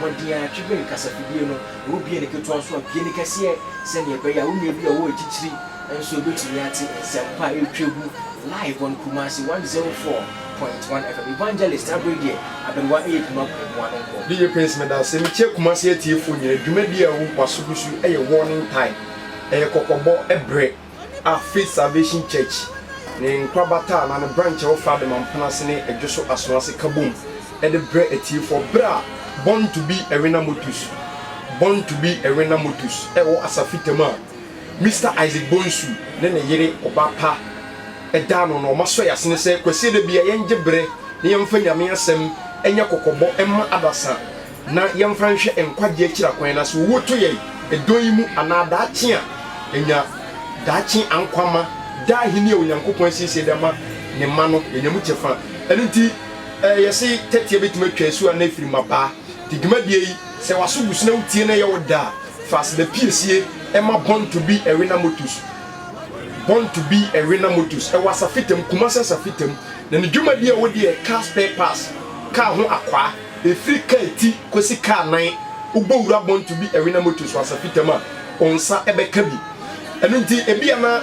Wɔn din ara, Tribune kasafidie no, ɛwɔ bie ne ketewa nso a bie ne kɛseɛ sɛdeɛ ɛbɛyɛ a wo nua bi a ɔwɔ akyirikyiri nso bɛtumi ate nsɛmpa a ɛretwa gu live on Kumasi 104.1 FM. Evangelist Abere deɛ aberewa ɛyɛ pima kwan mu ano nkɔ. DJ Prince meda ase. Mekyia Kumasi atiefoɔ nyinaa. Dwumadie a ɛwɔ Kwaso gu so yi yɛ warning time. Ɛyɛ kɔkɔbɔ brɛ. a Faith Salvation Church ne nkorabata anaa ne branch a ɛwɔ Frade Mampon ase ne Dwo So Asono ase ka bom de brɛ atiefoɔ berɛ a Born to be a Winner Motus Born to be a Winner Motus ɛwɔ Asafitam a Mister Isaac Bonsu ne ne yere Ɔba Pa da ano no wɔasɔ yɛn asene sɛ Kwasie da bi a yɛngye berɛ na yɛmfa Nyame Asɛm nyɛ kɔkɔbɔ mma adasa na yɛmfa nhwɛ nkwagye akyiri akwan no ase, owu to yɛn, ɛdɔn yi mu anaa daakye a enya daakye ankwa ma daa ahenni a Onyankopɔn asiesie de ama ne mma no, yenya mu kyɛfa. Ɛno nti, ɛɛ, yɛse tɛtea betumi atwa asu anaa afiri mmabaa. Te dwumadie yi, sɛ w'aso gu so na wotie na ɛyɛ wo dɛ a, fa aseda piesie ma Born to be a Winner Motors, Born to be a Winner Motors, ɛwɔ Asafitam, Kumasi Asafitam, na ne dwumadie a wɔdi yɛ Car Spare Parts, Kaa ho Akwaa. Ɛfiri kaa ti kɔsi kaa nan, wobɔ wura bɔnto bi ɛwe na moto so asafitam a, wo nsa bɛka bi. Ɛno nti, ebia na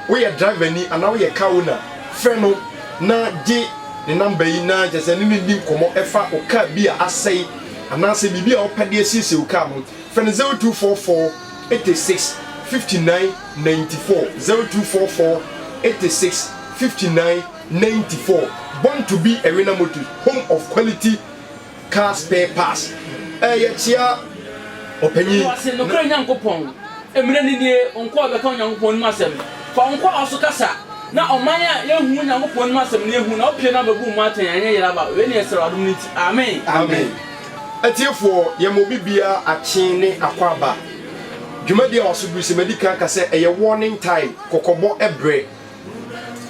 woyɛ drivani anaa woyɛ car owner, frɛ no na gye ne namba yi na kyerɛ sɛ ne no nni nkɔmmɔ ɛfa wo kaa bi a asɛe anaasɛ biribi a wopɛ de asiesie wo kaa no. Frɛ no 0244 86 59 94, 0244 86 59. ninety four, Born to be a Winner Motors, Home of Quality Car Spare Parts. Ɛɛ, yɛkyea Ɔpanyin. Hyɛ wo ase, nokorɛ Nyankopɔn. Mmerɛ no nie, wo nkoa bɛka Onyankopɔn anim asɛm. Fa wo nkoa a ɔso kasa, na ɔman a yɛnhunu Onyankopɔn anim asɛm no yɛhu, na wopue na wobɛbu wo mma atɛn, anyɛ yera ba. Wei ne yɛsrɛ wo adom no nti. Amen. Amen. Atiefoɔ, yɛma obi biara akye ne akwaaba. Dwumadie a waso duru sɛ madi kan aka sɛ ɛyɛ warning time, kɔkɔbɔ ɛberɛ,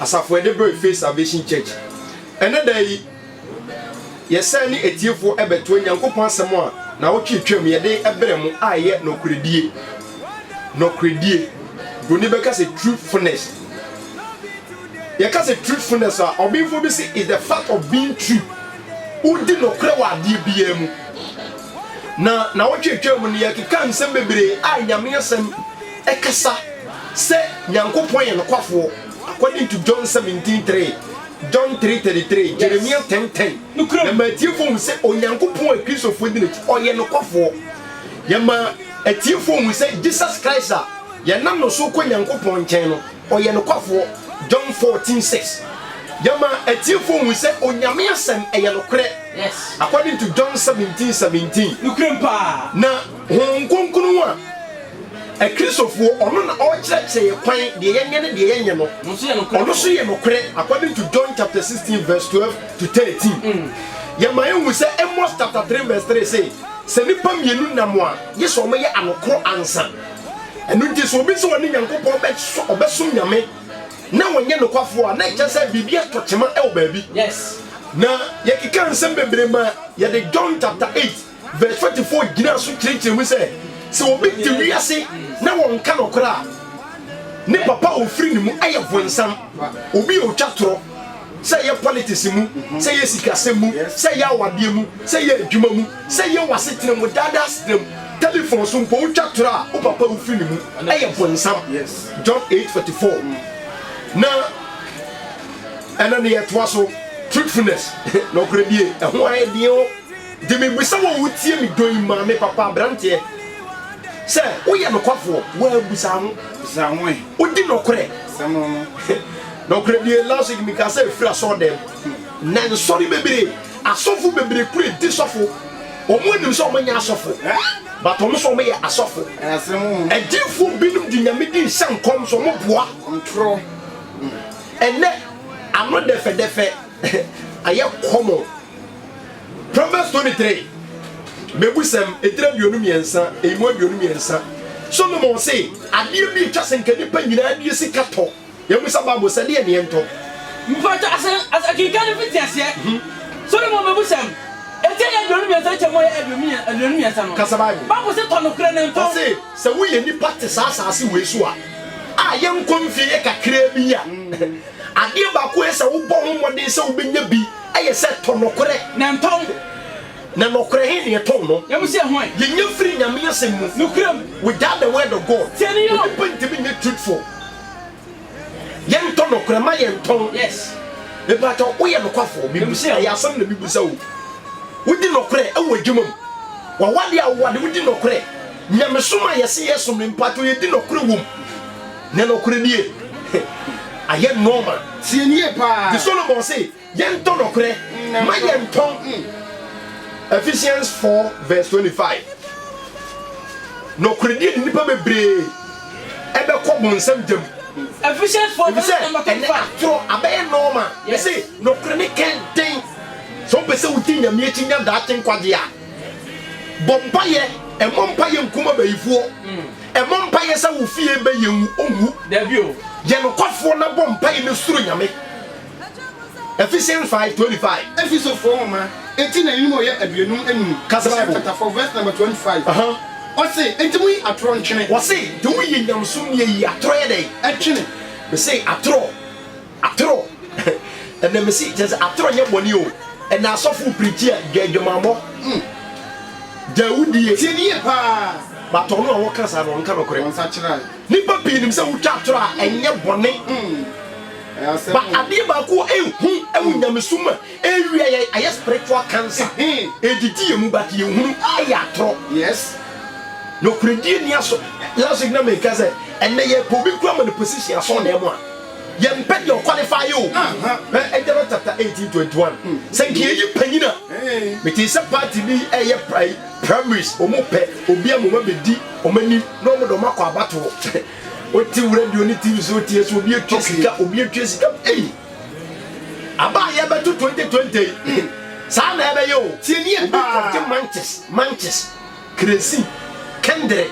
Asafo a yɛde brɛɛ Faith Salvation Church. Ɛnnɛ da yi, yɛsan ne atiefoɔ bɛtoa Nyankopɔn asɛm a naawɔtwe twam yɛde brɛ mo a ɛyɛ Nɔkorɛdie, Nɔkorɛdie, Broni bɛka sɛ Truthfulness. Yɛka sɛ Truthfulness a, ɔbenfoɔ bi se is the fact of being true. Wodi nɔkorɛ wɔ adeɛ biara mu. Na naawɔtwe twam no, yɛkeka nsɛm bebree a Nyame asɛm ɛkasa sɛ Nyankopɔn yɛ nokwafoɔ, according to John seventeen three, John three thirty three, Jeremiah ten ten, na ma atiefoɔ hu sɛ Onyankopɔn a Kristofoɔ di n'akyi, ɔyɛ nokwafoɔ. Yɛma atiefoɔ hu sɛ Jesus Christ a yɛnam no so kɔ Nyankopɔn nkyɛn no, ɔyɛ nokwafoɔ, John fourteen six. Yɛma atiefoɔ hu sɛ Onyame Asɛm ɛyɛ nokorɛ, according to John seventeen seventeen, na Honhom Kronkron a, Akristofoɔ, ɔno na ɔrekyerɛkyerɛ yɛ kwan, deɛ yɛnyɛ ne deɛ yɛnyɛ no, ɔno nso yɛ nokorɛ according to John chapter 16 verse 12 to 13. Yɛma yɛhu sɛ Amos chapter 3 verse 3 se, Sɛ nnipa mmienu nam a, gye sɛ wɔyɛ anokoro ansa. Ɛno nti sɛ obi se ɔne Nyankopɔn bɛso, ɔbɛsom Nyame, na ɔnyɛ nokwafoɔ a, na ɛkyerɛ sɛ biribi atɔ kyema wɔ baabi. Na yɛkekaa nsɛm bebree maa yɛde John chapter 8. Verse forty four gyina so kyerɛkyerɛ mu sɛ, sɛ obi te wiase na wɔnka nɔkorɛ a, ne papa a ofiri ne mu yɛ bonsam. Obi a otwa torɔ, sɛ ɛyɛ politics mu, sɛ ɛyɛ sikasɛm mu, sɛ ɛyɛ awadeɛ mu, sɛ ɛyɛ adwuma mu, sɛ ɛyɛ w'asetena mu, daadaa asetena mu, telephone so mpo, wotwa torɔ a, wo papa a ofiri ne mu yɛ bonsam. John eight forty four. Na ɛna ne yɛtoa so, fruitfulness, nɔkorɛdie, ɛho ayɛ den o. Gye me bisa wo a wotie me dɔ yi maame, papa, abranteɛ sɛ woyɛ nokwafoɔ? Waa bisa ho. Bisa ho eh. Wodi nɔkorɛ? Sɛm no no. Nɔkorɛ die last week me kaa sɛ efiri asɔɔ dɛm na nsɔre bebree asɔfo bebree kura edi sɔfo wɔn anim sɛ wɔn nyɛ asɔfo but wɔn nso wɔn yɛ asɔfo. Adiifoɔ binom di nyame din hyɛ nkɔm so wɔn boa ntorɔ ɛnɛ ano dɛfɛdɛfɛ ayɛ common. Proverbs twenty three, Mebusɛm, etire aduonu mmiɛnsa, eyi mu aduonu mmiɛnsa. Solomon se, Adeɛ bi etwa sɛ nka nnipa nyinaa die sika tɔ. Yɛmmisa Bible sɛ, Deɛ neɛ ntɔ? Mpakyɛ ase ase kenkan no fi teaseɛ. Solomon mebusɛm, etire aduonu mmiɛnsa kyɛ mu aduonu mmiɛnsa no. Kasa Bible. Bible se, Tɔ nokorɛ na ntɔn. Ɔse, Sɛ woyɛ nnipa te saa asaase wei so a, a yɛnkɔ mfie yɛ kakraa bi yi a, adeɛ baako a ɛyɛ sɛ wobɔ ho mmɔden sɛ wobɛnya bi, Ayɛ sɛ tɔ nɔkorɛ. Na ntɔn wo. Na nɔkorɛ he na ɛtɔn no. Nyamehyɛ ho ɛ. Yɛnya firi Nyame asɛm mu. Nokorɛ mu. Without the word of God. Tie no yɔ. Onipa ntumi nyɛ truthful. Yɛntɔ nɔkorɛ, mma yɛntɔn. Yes. Mepakyɛw, woyɛ nokwafoɔ? Mebisa, ɛyɛ asɛm na mebisa o. Wodi nɔkorɛ wɔ adwuma mu? W'awadeɛ a wowade, wodi nɔkorɛ? Nyamesom a yɛse yɛsom no, mepakyɛw yɛdi nɔkorɛ wom? Na nɔkorɛ nie ayɛ nɔɔma. Tie no yie paa. Nti Solomon se, Yɛntɔ nɔkorɛ, mma yɛntɔn. Ephesians four verse twenty five. Nɔkorɛdie de nnipa bebree bɛkɔ bonsam gya mu. Ephesians four verse Efisɛ number twenty ɛnɛ five. atorɔ abɛyɛ nɔɔma. Yes. Mese nɔkorɛ no kɛn den. Sɛ wopɛ sɛ wodi Nyame akyi nya daakye nkwagye a, bɔ mpaeɛ, mmɔ mpaeɛ nkum abayifoɔ. Ɛbɔ mpaeɛ sɛ wo fie bɛ yɛ nwu onwu dabi o yɛ nokwafoɔ na bɔ mpaeɛ na suro nyame Efesie nfae 25. Efesofoɔ nwoma eti na enum ɔyɛ aduonum enum Ɔsem chapter four verse number twenty five Uh huh. Ɔse enti mo yi atorɔ ntwene. Ɔse nti mo yi nyamesom nie yi atorɔ yɛ dɛn? Ɛtwene. Mese atorɔ. Atorɔ ɛnɛ mese kyerɛ sɛ atorɔ nyɛ bɔne o ɛnɛ asɔfo wo prikyi a gya adwamammɔ hmm gya awudie. Tie no yie paa. But ɔno a wɔka saa no ɔnka nɔkorɛ. Nnipa pii nim sɛ wotwa atorɔ a ɛnyɛ bɔne but adeɛ baako a ɛhu ɛwɔ nyamesom mu a ɛrewia yɛn ayɛ spiritual cancer ɛredidi yɛn mu but yɛnhunu ɛyɛ atorɔ. Nɔkorɛdie nni aso. Last week na meka sɛ ɛnɛ yɛpɛ obi koraa ma no position asɔɔnaa mu a. Yɛ mpɛ deɛ ɔkwalifai o. Hwɛ Ɛgyama chapter eighteen twenty one. Hmm. Sɛ nka yɛyi panyin a. Mete sɛ party bi ɛyɛ prae primaries ɔmo pɛ obi a moma bɛdi ɔmo anim na ɔmo de ɔmo akɔ abatoɔ. Wote radio ne TV so woteɛ so obi atwa sika obi atwa sika ei. Aba a yɛbɛto twenty twenty yi. Hmm. Saa na ɛbɛyɛ o. Tiɛ ni ebi kɔgye manches manches. Kerosene, kɛndere,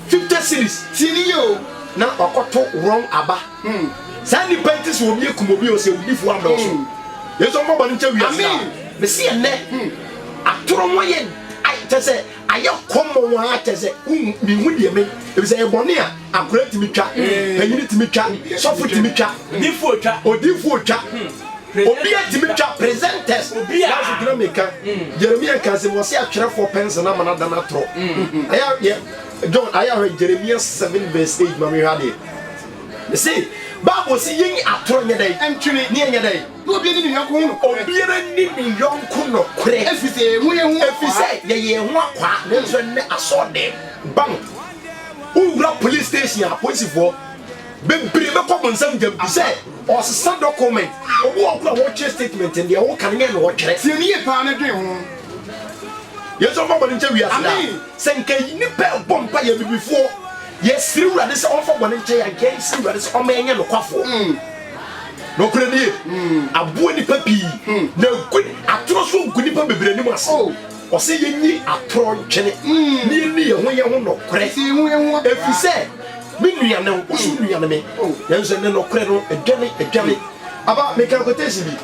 fifty cedis, tie no yie o, na wakɔto wrong aba. Saa nnipa yi te sɛ obi akum obi o, sɛ awudifoɔ adɔɔso. Yesu mfa bɔne nkyɛ wiase no a. Mese ɛnnɛ atoro ho ayɛ kyɛ sɛ ayɛ kɔmmɔ wo ara kyɛ sɛ menhu deɛ me ɛfiri sɛ ɛyɛ bɔne a. Akora tumi twa, panyini tumi twa, sɔfo tumi twa, odiifoɔ twa, odiifoɔ twa, obia tumi twa, presenters, nanso gyina meka, Jeremia nka sɛ wɔse atwerɛfoɔ pɛnse no ama no ada no atorɔ. John, ayɛ ahwɛ Jeremia 7 verse 8 ma mehwɛ adeɛ. Mese, Bible se yɛn atorɔ nyɛ dɛn? Ɛntwene. Ne ɛnyɛ dɛn? Na obiara ni ne yɔnko ho nɔkorɛ. Obiara ni ne yɔnko nɔkorɛ. Ɛfiri sɛ yɛyɛ ho yɛn ho akwaa. Ɛfiri sɛ yɛyɛ ho akwaa, nanso ɛnnɛ asɔɔdɛm, bank, Wowura police station a, apolisifoɔ bebree bɛkɔ mo nsam gyam bi sɛ ɔresesa document. Obi wɔ hɔ koraa a wɔretwerɛ statement no, deɛ woka no nyɛ na ɔretwerɛ. Tie no yie paa na dwen ho. Yesu mfa bɔne nkyɛ wiase daa. Amen. Sɛ nka nnipa ɛbɔ mpaeɛ abibifoɔ yɛsrɛ wurade sɛ ɔmfa bɔne nkyɛ yɛn anka yɛnsrɛ wurade sɛ ɔmma yɛnyɛ nokwafoɔ nokorɛ nie aboa nnipa pii na agu atoro so agu nnipa bebree anim ase. Ɔsɛ yenni atoro ntwene na yenni yɛn ho yɛn ho nokorɛ, ɛfiri sɛ me nua ne wo, wo nso wo nua ne me. Nanso ɛnnɛ nokorɛ no adwane, adwane. Aba, meka quotation bi.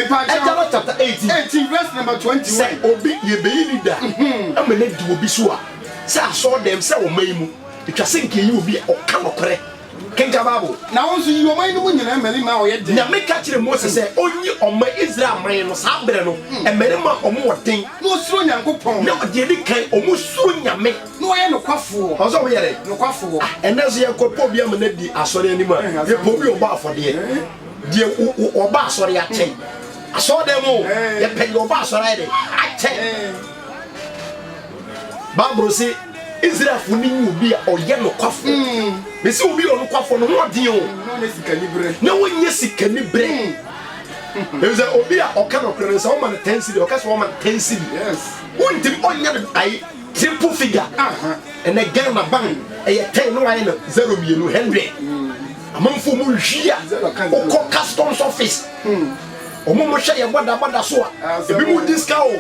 Ɛgyana chapter eighteen, Sɛ obi, yɛbɛyi ne da ama no adi obi so a, sɛ asɔɔdɛm, sɛ ɔman mu, ɛtwa sɛ nka yɛyi obi a ɔka nokorɛ. Kenkan Bible, na wo nso yi ɔman no mu nyinaa mmarima a wɔyɛ den. Nyame ka kyerɛɛ Mose sɛ ɔnyi ɔman Israel man no saa berɛ no mmarima a wɔwɔ den. Na wɔsuro Nyankopɔn. Na wɔn deɛ ɛdi kan, wɔsuro Nyame. Na wɔyɛ nokwafoɔ. Ɔsɛ wɔyɛ dɛn? Nokwafoɔ. Ah, ɛnnɛ nso yɛkɔ pɔ obi ama no adi asɔre anim a, yɛpɛ obi a ɔbɔ afɔdeɛ. Deɛ ɔba asɔre akyɛ asɔredan mu o, yɛpɛ deɛ ɔba asɔre ayɛ dɛn? Akyɛ. bible se israelfo no nya obi a ɔyɛ nokwafo mm. mese obi yɛ ɔnokwafo no ho ɔden o mm, na wonyɛ sikani berɛ mm. ɛfisɛ obi a ɔka nokorɛ no sɛ woma no tansiri ɔka sɛ wɔma no tansiri wontimi ɔnyɛ no ayi triple figure ɛnɛ ghana ban ɛyɛ ten na wayɛ no zero mmienu hundred amanfoɔ mu nhwi a wokɔ customs office Ɔmo mo hwɛ yɛ bɔda bɔda so a ebi mo di sika o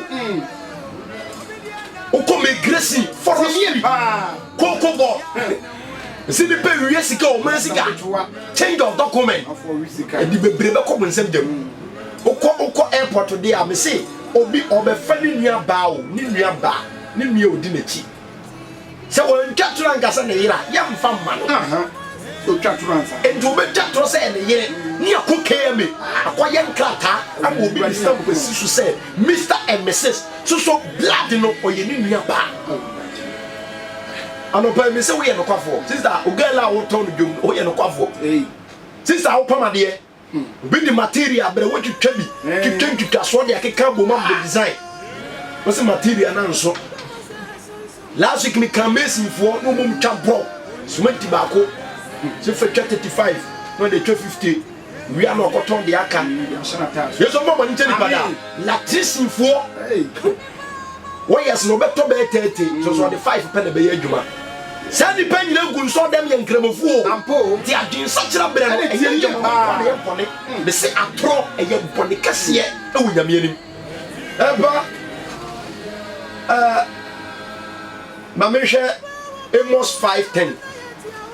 okɔ migration forest koko bɔ nsi nipa ewie sika o mmerɛ sika change of document ɛdi bebree bɛ kɔ mo nsɛm gyam okɔ okɔ airport de a mesi obi ɔbɛfa ne nua baa o ne nua baa ne nua odi n'akyi. Sɛ wantwa toro anka sɛ ne yere a, yɛmfa mma no. Otwa toro ansa. Enti obetwa toro sɛ ɛyɛ ne yere ne akɔ KMA akɔyɛ nkrataa ama obi de stamp asi so sɛ Mister and Misis. So so blood no ɔyɛ ne nua paa? Anɔpa yi mise woyɛ nokwafoɔ. Sister, wo girl a wotɔn no dwom no, woyɛ nokwafoɔ. Sister a wopam adeɛ. Obi de material abrɛ wo, wotwitwa bi, twitwa ntwitwasoɔ de akeka abom abɔ design. Wọ́n sɛ material na nso. Last week mi kan masonfoɔ na wɔn twa brɔ cement baako sɛ fɛ twa thirty five na ɔde twa fifty wia na ɔkɔtɔn de aka. Yesu ɔmɔ bɔ ne nkyɛn nipa daa. Latrisinfoɔ. wɔyɛ sɛ wɔbɛtɔ bɛyɛ thirty nso so ɔde five pɛ na ɛbɛyɛ adwuma saa nnipa nyina gu nsɔ dɛm yɛ nkramofoɔ nti adwensakyera berɛ no ɛyɛ yie paa na ɛyɛ bɔne me se atorɔ ɛyɛ bɔne kɛseɛ ɛwɔ nyame anim ɛba ɛɛ ma mehwɛ Amos five ten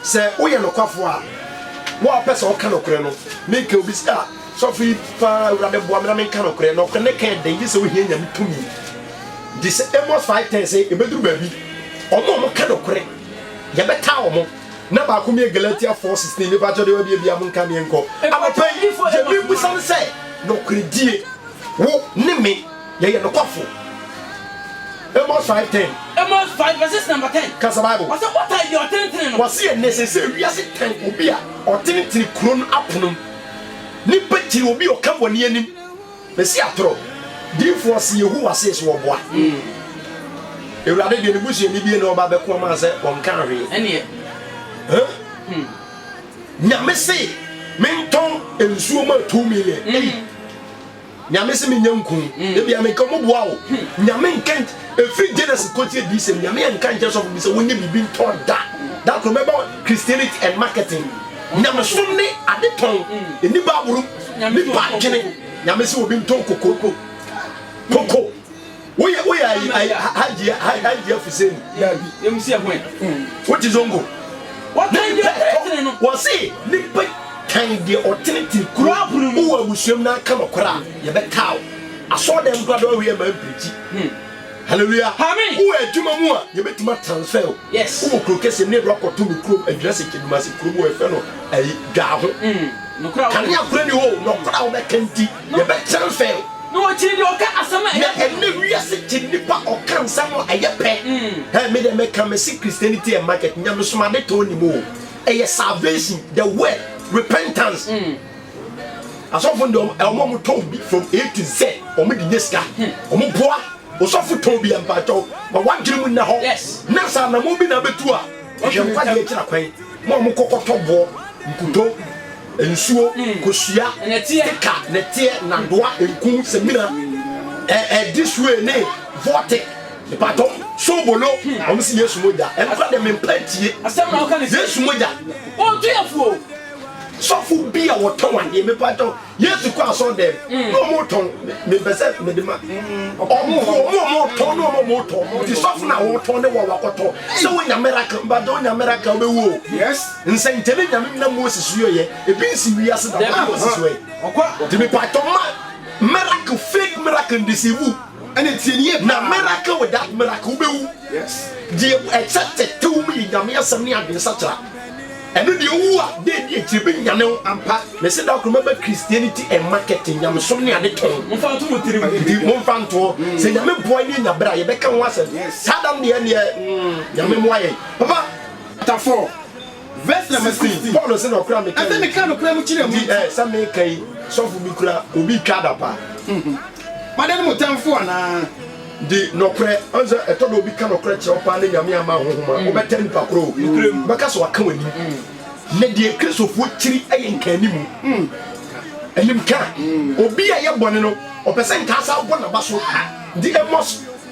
sɛ woyɛ nokwafoɔ a wo a wopɛ sɛ woka nokorɛ no meka obi sɛ a Sɔfo yi paa awurade boa me na menka nokorɛ, nokorɛ ne ka ɛdɛn gyesɛ wohia Nyame tumi di sɛ Amos five ten sɛ ɛbɛduru baabi ɔmo a ɔmo ka nokorɛ yɛbɛtaa ɔmo na baako me yɛ Galatia four sixteen me pakyɛ deɛ wabia bia monka me nkɔ anɔpa yi deɛ mebisa ne sɛ nokorɛ die wo ne me yɛyɛ nokwafo Amos five ten. Amos five verses number ten. Kasa Bible. Wɔsɛ ɔtan deɛ ɔtenetene no. Wɔsɛ yɛ nnɛ sɛ sɛ wiase tan obi a ɔtenetene kuro no apono mu. Nnipa gyina obi a ɔka bɔne anim, na si atoro. Diyifoɔ se Yehowa see so ɔboa. Awurade deɛ ne busuani bie na ɔba bɛko ama sɛ ɔnkaa hwee. Ɛneɛ. Huh? Nyame se mentɔn nsuo ma two million. Ei. Nyame se menyɛ nku. Hmm. Ebia menka ɔmo boa wo. Hmm. Nyame nka efiri Genesis kɔti Adiyisɛm. Nyame nka nkyɛ sɔfo bi sɛ wonyɛ biribi ntɔn da. Da koro mɛba Christianity and marketing. Nyamesom ne ade tɔn. Ɛni Bible. Nipa adwene. Nyame se obi ntɔn koko. Koko. Woyɛ woyɛ ayi ayi hajia hajia fuseni. Dabi. Emu si ɛho ɛ. Wote zongo. Wɔkan deɛ ɔtene no. Wɔse nipa kan deɛ ɔtene tiri kuro. Kuro mu. Wowɔ abusuam na aka nɔkora a yɛbɛ taa wo. Asɔɔ dɛm kora dɔn hwee ma mpirikyi. Hallelujah. Amen. Wowɔ adwuma mu a yɛbɛtumi atransfer wo. Yes. Wowɔ kuro kɛseɛ mu na yɛde wakɔ to me kurom adwinase kyedumase kurom wɔ yɛfrɛ no ayi dwaaho. Nɔkora a wobɛ. Kanea kora ni hɔ o nɔkora a wobɛka nti. Yɛbɛtra nsɛe o. Na wɔkyiri deɛ ɔka asɛm a ɛyɛ pɛ. Na ɛnɛ wiase kyi nnipa ɔka nsɛm a ɛyɛ pɛ. Hey, me deɛ meka mese Christianity and market nyamesom adetɔn nni mu o. Ɛyɛ salvation, the word, repentance. Asɔfo no deɛ ɔmo ɔmo tɔn bi from A to Z, ɔmo de nyɛ sika. Ɔmo boa osɔfo tɔn bi a mpakyɛw ma wadwene mu nna hɔ. Na sɛ anamɔn bi na abɛtu a, hwɛ nkwa deɛ akyira kwan. Mo a mokɔ kɔtɔ boɔ, nkuto. nsuo, kosua, stika, nɛteɛ, nnadoa, nku, samina, eh eh this way ne vortic, mpatɔ, sobolo, wɔn se Yesu mogya, ɛno kora deɛ me mpa ntie, Yesu mogya, ɔntoyafuo, sɔfo bi a wɔtɔn adeɛ, me patɔ, Yesu kɔ asɔ dɛm, na wɔn retɔn, me mpɛ sɛ me de ma, wɔn wɔn wɔn retɔn, na wɔn wɔn retɔn, ti sɔfo na wɔtɔn ne wɔn wakɔtɔn, sɛ wɔnya miracle, mpatɔ wɔnya miracle, wɔbɛwuo. Nsɛnkyerɛnne Nyame nam Moses so yɛeɛ, ebi nsi wiase da, why ɔsi so ɛ? Nti mepatɔ mma miracle, fake miracle ndeceive wo, na miracle without miracle wobɛwu. Deɛ ɛkyɛ tɛtɛ wɔ mu yɛ Nyame asɛm ne adwene sakyera. Ɛno deɛ wowu a, da ɛdi akyire ɛbɛnyane wo ampa. Mese da koro mɛba Christianity and market, nyamesom ne ade tɔn. Nti momfa ntoɔ, sɛ Nyame boa ne yɛnya berɛ a yɛbɛka ho asɛm, saa da no deɛ ɛnneɛ Nyame mmoa yɛn. Papa. Chapter four verse number sixteen, Paul se na ɔkora a meka yi nti, ɛsɛ meka nokorɛ mu kyerɛ mo nti, ɛɛ sɛ meka yi, sɔfo bi kura obi retwa adapa. Moadane mo tamfo anaa? Di nɔkorɛ, ɔne sɛ ɛtɔ da obi ka nɔkorɛ kyerɛ wo paa na Nyame amma anhohom a, wobɛtaa nipa korɔ o, wobɛka sɛ waka w'anim. Na deɛ Kristofoɔ kyiri yɛ nkaanimu, animka. Obi a yɛ bɔne no, ɔpɛ sɛ nkaa saa bɔ n'aba so, nti amos.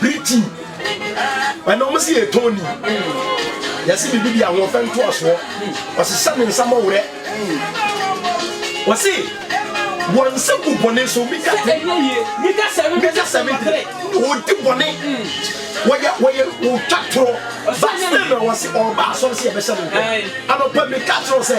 Briti ɛna ɔmo si yɛ Tony yɛsi bibi di ahoɔfɛ ntoasoɔ ɔsesa ne nsa mɔwerɛ ɔsi wɔn nsa gu bɔne so mita mita sɛbi tiri ɔdi bɔne wɔyɛ wɔyɛ wɔtwa torɔ ba sɛ na wɔsi ɔba asɔre si yɛ bɛhyɛ ne nkɔ anɔpɛ mita kyerɛ sɛ.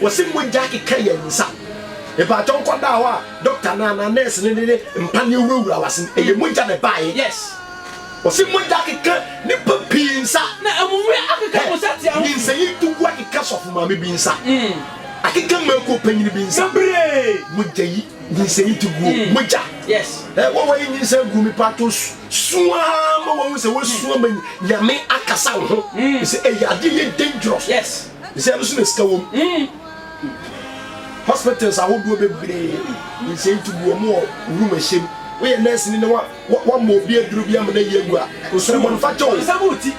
Wɔse mogya akeka yɛn nsa. Mpakyɛw nkɔdaa hɔ a doctor no anaa nurse no de ne mpaneɛ wurawura w'ase no, ɛyɛ mogya na ɛbaeɛ. Yes. Wɔse mogya akeka nnipa pii nsa. Na amummerɛ akeka mo nsateaa ho. Nyinsɛnyi tugu akeka sɔfo maame bi nsa. Akeka mmaako panyin bi nsa. Bebree. Mogya yi, nyinsɛnyi tuguo, mogya. Yes. Ɛɛ wɔn a wɔayɛ nyinsɛn agu mepakyɛw su ara ma wɔahu sɛ wɔasu ama Nyame akasa wo ho. Ɛsɛ ɛyɛ adeɛ ɛyɛ dangerous. Yes. Nsɛe no so na sika wom. Hospitals ahodoɔ bebree nsɛe nti gu wɔn wɔ wuramuhyɛm. Woyɛ nɛɛseni na wɔammɔ obi aduro bi amma no ayi agu a, nsrɛbɔ no fa kyɛ o.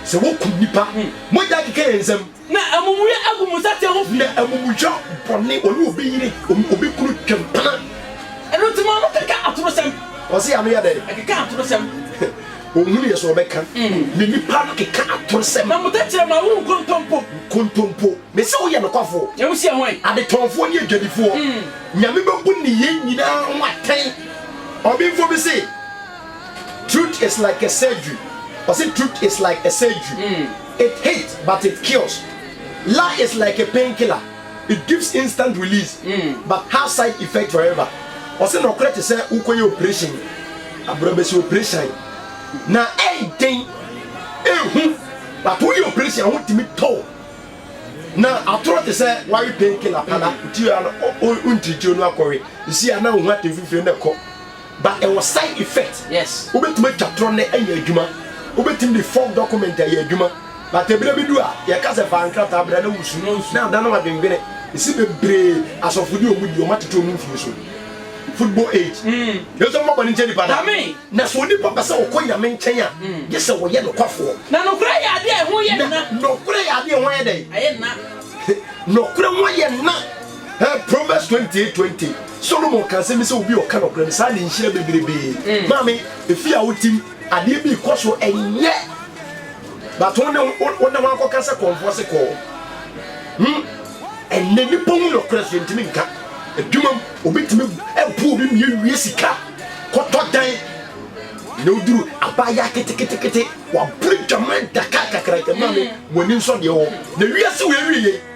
Sɛ wokum nnipa, mogya akeka yɛn nsam. Na amumuyɔ agu mo nsateaa ho fi. Na amumuyɔ bɔne, wɔne obi yere, obi kunu twa mpena. Ɛno nti mo ano keka atorosɛm. Wɔse yɛn ano yɛ dɛn? Ɛkeka atorosɛm. Ɔhunu yɛ sɛ ɔbɛka ne nipa no keka atorosɛm. Na mo tɛkyerɛma wo nkontompo. Nkontompo. Mese woyɛ nokwafoɔ. Na wo sua hwan? Adetɔnfoɔ ne adwadifoɔ. Nyame bɛbu nneyɛɛ nyinaa ho atɛn. Ɔbenfoɔ bi se truth is like a surgery, ɔse truth is like a surgery, it hits but it kills, lie is like a painkiller. It gives instant release but have side effect forever Ɔse nɔkorɛ te sɛ wokɔ yɛ operation abrabasi operation na ɛyɛ den ehu but wo yɛ operation a ho tumi tɔ wo na atorɔ te sɛ wawe pain killer pala nti a na wo ntirikyi onu akɔwe nsi a na wo ho atemfifire na ɛkɔ But ɛwɔ side effect, wobɛtumi atwa torɔ nnɛ anya adwuma, wobɛtumi de fog document ayɛ adwuma, but ɛberɛ bi du a yɛka sɛ fa nkrataa bra na wusu na adane w'adwendwene, mese bebree asɔfo deɛ wɔn die wɔn atete wɔn mfie so, football age, Yesu mma bɔne nkyɛ nnipa da, na sɛ onipa pɛ sɛ ɔkɔ Nyame nkyɛn a gye sɛ ɔyɛ nokwafoɔ, na nokorɛ yɛ adeɛ a ɛho yɛ nna, nokorɛ yɛ adeɛ a ɛho ayɛ dɛn? Ayɛ nna. Nokorɛ ho ayɛ nna. Proverbs twenty eight twenty Solomon ka nsɛm bi sɛ obi a ɔka nɔkorɛ no saa ne nhyira bebirebee. Mm. Maame, efi a wotim adeɛ bi kɔ so ɛnyɛ but wo ne wo ne wakɔka sɛ kɔnfoɔ se kɔɔ. Hmm. Ɛnɛ nipa hu nɔkorɛ so yɛntumi nka. Adwuma mu obi tumi ɛbu obi mie wie sika kɔtɔ dan na oduru abaayewa keteketekete wabere dwaman daka kakraka maame mm. wɔn ani nsɔ deɛ wɔ na wiase wɔ awie yɛ.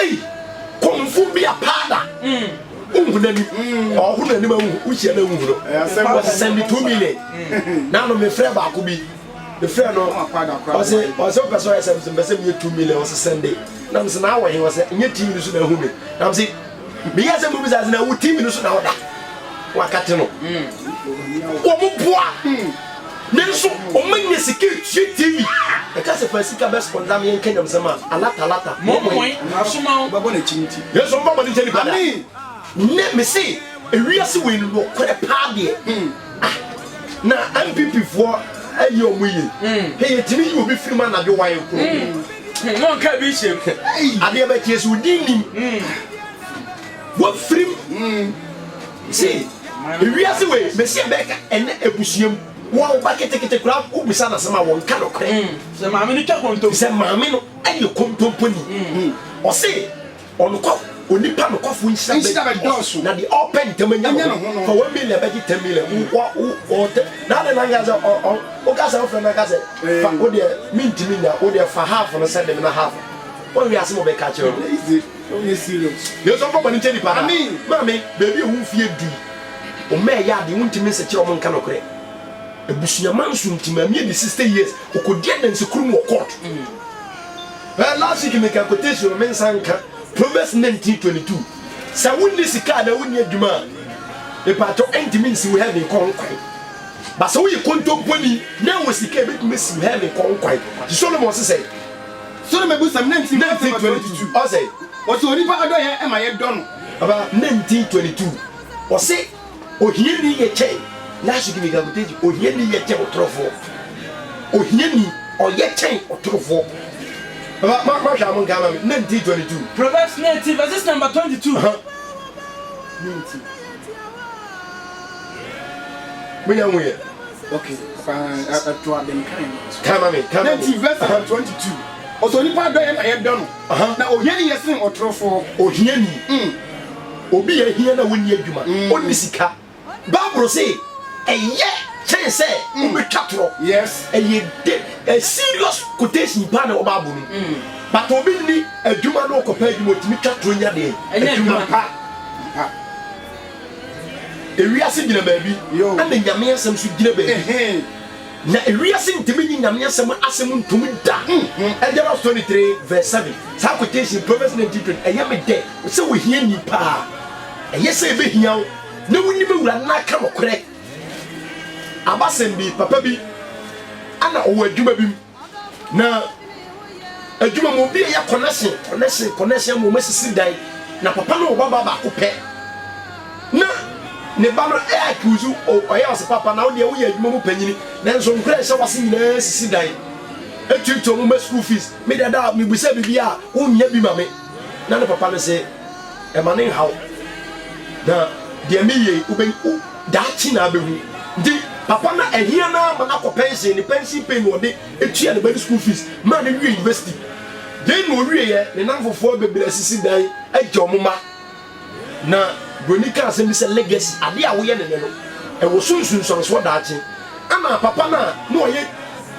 Ei kɔmfo bi apaada wohu n'anim ɔho n'anim ahu wohyia no ahu no ɔsesɛ me two million na no mefrɛ baako bi mefrɛ no ɔse ɔse wopɛ sɛ ɔyɛ sɛ mesɛ mpɛ sɛ meyɛ two million ɔse sɛnde na mesɛ na awɔ he ɔsɛ nyɛ tv no so na ahu me na mese meyɛ sɛ mobisa sɛ na wo tv no so na woda wakate no wɔn boa Nanso ɔma nya sika tua TV a ɛka sɛ fa sika bɛspɔnda me yɛnka nyamsɛm a alata alata mɔmɔe asoma wo bɛbɔ n'akyi nti. Nanso ɔmma bɔne nkyɛ nipa da. Nnɛ mese ewiase wei no nokorɛ paa deɛ ah na NPP foɔ ayɛ ɔmo yie hɛ yɛtumi yi obi firi mu anadwo wan koro hmm na ɔnka bi nhyɛ mu ei adeɛ bɛkyeɛ sɛ odin nim wafirim. Se ewiase wei mese ɛbɛka ɛnɛ abusua mu wo a wo ba ketekete koraa wo bisa no asem a wɔ nka nokorɛ sɛ maame no twa kontompo sɛ maame no ɛyɛ kontompo ni ɔse ɔnokɔ onipa nokɔfo nhyira bɛ dɔɔso na deɛ ɔpɛ ntɛm anya ne ho no fa 1 million bɛgye 10 million wo wa wo ɔtɛ na adeɛ na nka sɛ ɔ ɔ wo ka sɛ wo frɛ na nka sɛ fa wo deɛ mentimi nya wo deɛ fa half no sɛ de me na half wɔn wiase mo bɛka kyerɛ wo Wonyɛ serious. Nanso ɔnkɔ bɔne nkyɛ nipa daa. Amen. Maame, baabi a ɛwɔ wo fie du yi, wo mma ɛyɛ ade, wontumi nsekyerɛ wɔn nka nokorɛ. Abusua manso nti, maame adi sixty years, ɔkɔdi adanse koro mu wɔ court. Ɛ, last week mekaa quotation no, mensan nka, Proverbs nineteen twenty two, Sɛ wonni sika anaa wonni adwuma a, mepaatɔ, ɛntumi nsi wo heaven kɔ ho kwan. But sɛ woyɛ kontomponi na ɛwɔ sika a, ɛbɛtumi asi wo heaven kɔ ho kwan. Nti Solomon se sɛn? Soro mɛbusɛm ne nti mɛsɛ ma 22 ɔsɛ. Ɔsɛ onipa adɔyɛ ɛma yɛ dɔ no. Aba ne nti 22 ɔsɛ ohia ni yɛ kyɛn n'asogye mi gagoteji ohia ni yɛ kyɛn ɔtorofoɔ ohia ni ɔyɛ kyɛn ɔtorofoɔ aba ma ma hwɛ amu nka ama mi ne nti 22. Proverbs ne nti verses number 22 ne nti. Me yɛ nweyɛ. Okay, papa, ɛto ade nkan no. Kama me, kama me. Nti verse 122. Ɔsɛ onipa adɔ yɛ na yɛdɔ no. Na ohiani yɛ sen ɔtorofoɔ. Ohiani. Mm. Obi yɛ hia na wonni adwuma, mm. onni sika. Bible se ɛyɛ kyɛn sɛ mm. wobɛtwa torɔ. Yes. Ɛyɛ de, a serious quotation paa na ɛwɔ Bible no. Mm. But obi nni adwuma na ɔkɔpɛ adwuma, otumi twa torɔ nya deɛ. Ɛnyɛ adwuma pa. Ewiase gyina baabi, ɛna Nyame asɛm nso gyina baabi. Na ewiase ntumi nye Nyame asɛm, asɛm ntom da. Exodus 23 vs 7, saa quotation, Proverbs 19 20, ɛyɛ me dɛ. Sɛ ohiani paa a, ɛyɛ sɛ ebehia wo na wunim Awurade na aka nokorɛ. Abasɛm bi, papa bi na ɔwɔ adwuma bi mu. na adwuma mu obi yɛ connection connection connection mu wɔn sisi dan na papa no wɔ baba baako pɛ na ne ba no ɛ accuse ɔyɛ ɔsɛ papa na ɔdeɛ woyɛ adwuma mu panyini nanso nkura ɛhyɛ wase nyinaa sisi dan etuatua wɔn mɛ school fees me dada me busa bibi a wonyɛ bi ma me na ne papa no se ɛma ne nhaw na deɛ meyɛ wobɛn Daakye na abehu. Nti papa no ahia no ara ma no akɔ pɛnsen, ne pɛnsen pay na ɔde tua ne ba no school fees maa no wiee university. Dɛn na ɔwieeɛ? Ne nnamfofoɔ bebree asisi dan agya wɔn mma. Na buroni kaa asɛm bi sɛ, Legacy, adeɛ a woyɛ no nnɛ no, ɛwɔ so nsunsuansoɔ daakye. Ɛna papa no a na ɔyɛ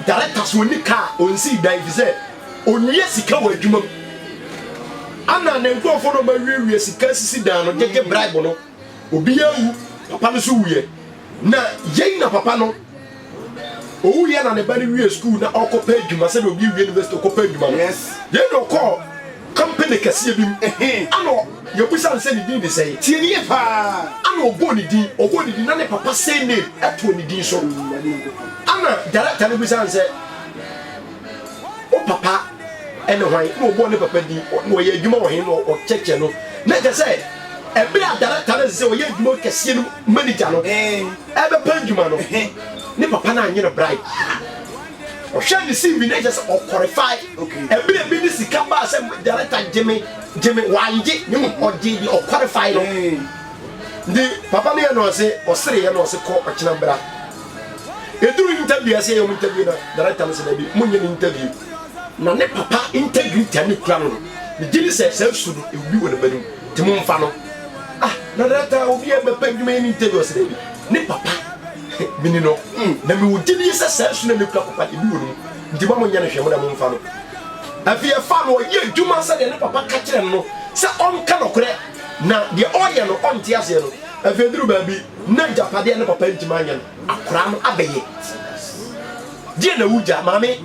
director so ɔnni kaa, ɔnsii dan ɛfiri sɛ ɔnwia sika wɔ adwuma mu. Ɛna ne nkurɔfoɔ na wɔawiewie sika asisi dan no gyegye bribe no. Obiara nwu, papa no nso wuiɛ. Na yei na papa no owuiɛ na ne ba no wie sukuu na ɔkɔpɛ adwuma sɛdeɛ obi wie university ɔkɔpɛ adwuma no. Yei na ɔkɔɔ company kɛseɛ bi mu ana yɛbusa no sɛ ne din de sɛn. Tie no yie pa ara. Ana ɔbɔɔ ne din, ɔbɔɔ ne din na ne papa surname too ne din so. Ana director no busaa no sɛ. wo papa ne hwan? Na ɔbɔɔ ne papa din, na ɔyɛ adwuma wɔ he? Na ɔkyɛkyɛ no. Na kyɛ sɛ, ɛberɛ a darekta no ɛsɛ sɛ ɔyɛ adwuma kɛseɛ no manigya no ɛrebɛpa adwuma no, ne papa no annye no bribe biara. Ɔhwɛɛ ne CV na kyɛ sɛ ɔkɔrefae. Ɛberɛ bi ne sika baa sɛ darekta gye me, gye me, wangye, na mmom ɔgyee deɛ ɔkɔrefae no. Nti papa no yɛ no ɔse, ɔsereeɛ na ɔse kɔ ɔkyena bra. Ɛduru interview a ɛsɛ yɛ mu interview na director no sɛ daabi monyɛ no interview na ne papa integrity a ne kura no no megye ne sɛ saa su no ɛwubi wɔ ne ba no mu nti momfa no ah na director obi a bɛpɛ adwuma yɛ no interview ɔsɛ daabi ne papa mini no na mewɔ gyidie sɛ saa su no ne kura papa deɛ bi wɔ no mu nti ma monyɛ no hwɛ mo na momfa no afei ɛfa no ɔyɛ adwuma sɛdeɛ ne papa ka kyerɛ no sɛ ɔnka nɔkorɛ na deɛ ɔyɛ no ɔnte aseɛ no afei duru baabi N'agyapade a ne papa ntumi anyɛ no, akwadaa no abɛyɛ. Deɛ na wogya, maame?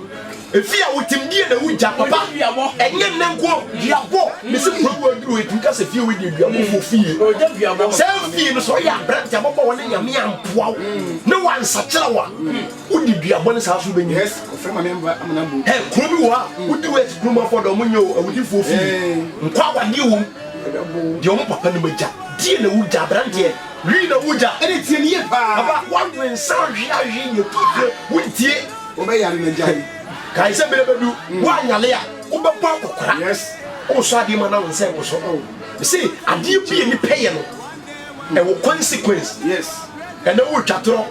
Efie a wotem, deɛ na wogya, papa? Ɛnyɛ nnɛ nko, duabɔ. Mese kuro wo aduru hɔ, yɛtumi ka sɛ fie wei deɛ duabɔfoɔ fie. Saa fie no, sɛ woyɛ aberante a ababaawa ne Nyame ampoa wo na wansakyera wo a, wode duabɔ ne saa so wobɛnya bi. Kuro bi wɔ hɔ a, woduru hɔ a, ɛsɛ kurom afoɔ dɛ, wɔnyɛ o, awudifoɔ fie. Nkɔ awadeɛ wɔ mu. Deɛ ɔmo papa nom agya. Deɛ na wo gya abranteɛ. Wii na wo gya. Ɛne tie no yie paa. Aba w'adwene nsa ahwe ahwe nea ɛtu fire wo ntie. Wo bɛ yare na gyae. Kae sɛ bere bɛdu wo anyale a wo bɛ bɔ akɔkora. Yes. Wo sɔ adeɛ ma na wo nsa ɛwɔ so. Oh. Me se adeɛ bi a nipa yɛ no ɛwɔ consequence. Yes. Ɛnɛ wo twa torɔ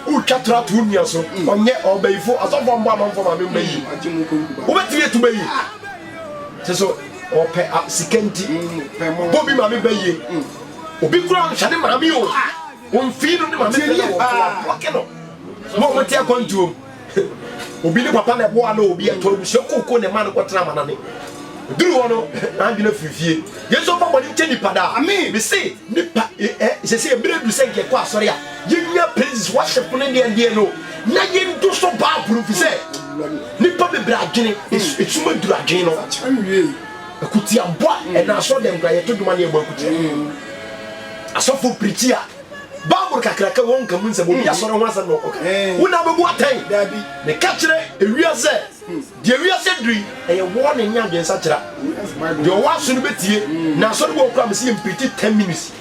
wo twa torɔ ato wo nua so. Ɔnyɛ ɔbayifo asɔfo a ɔmbɔ amanfo maame mba yie. Wo bɛ tumi atu bɛ yie. Te so ɔpɛ a sika nti bɔ bi maame bɛ yie obi kura nhwɛ ne maame o a ɔmfii no ne maame bɛ na wɔbɔke no ma ɔmo te akwantuom obi ne papa na ɛboa na obi ɛtɔ abusua koko ne ma no kɔtena ama nane duru hɔ no n'adwene firi fie yɛn nso mfa bɔne nkyɛ nipa daa mese nipa sɛsɛ mmerɛ du sɛ nkɛkɔ asɔre a Yɛnnya praises worship ne deɛ deɛ no na yɛndu so bible fi sɛ nipa bebree adwene esum aduru adwene no akutiabɔ a ɛna asɔ dɛm kora yɛto dwuma ne yɛbɔ akutia asɔfo pirikyi a bible kakraka wɔn nka mu nsɛm obi asɔre ho asɛm na ɔkɔka wo na bɛbu atɛn meka kyerɛ ewia sɛ deɛ ewia sɛ duri ɛyɛ wɔɔ ne nya adwensakyera deɛ ɔwɔ aso no bɛtie na asɔre wɔ kora me sɛ yɛmpirikyi 10 minutes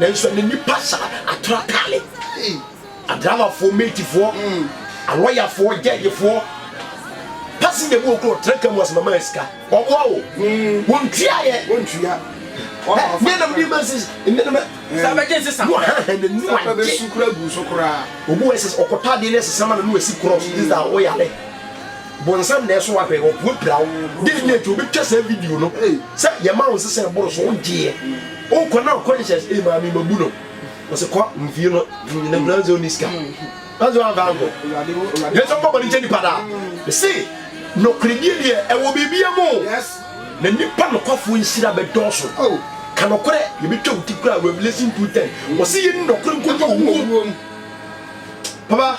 Nanso ɛne nnipa sa atra taale. Adramafoɔ, meetifoɔ, alɔyafoɔ, gyɛɛgyefoɔ, pasinja bi wɔ kuro ɔtra ka mu asɛm ama yɛ sika. Wɔboa wo. Wɔntua yɛ. Wɔntua. Nneɛ nam di ma sisi. Nneɛ nam. Saa bɛgye nsesa. No haha na nu agye. Saa bɛsu kura gu so koraa. Obu ɛsɛ ɔkɔtɔ adeɛ ne ɛsesa ma no no ɛsi korɔ so. This da ɔyare. Bonsam na ɛso ahwɛ, ɔpue pira wo. Dɛn ni nti wobɛtwa saa video no sɛ yɛma wo nsesa ɛboro so, wogyeɛ. Wokɔ na wo conscience, ei maame mabu no. Ɔse kɔ mfie no nyina nyina sɛ ɔnni sika. Ɔse wamfa ankɔ. Yesu mfa bɔne nkyɛ nipa daa. Mese nɔkoredie deɛ ɛwɔ biribia mu o. Na nipa nokwafoɔ nhyira bɛdɔɔso. Ka nɔkorɛ, yɛbɛtwa wo ti koraa, Revelation 2:10. Ɔse yɛni nɔkorɛ nkɔdu owuo mu. Papa.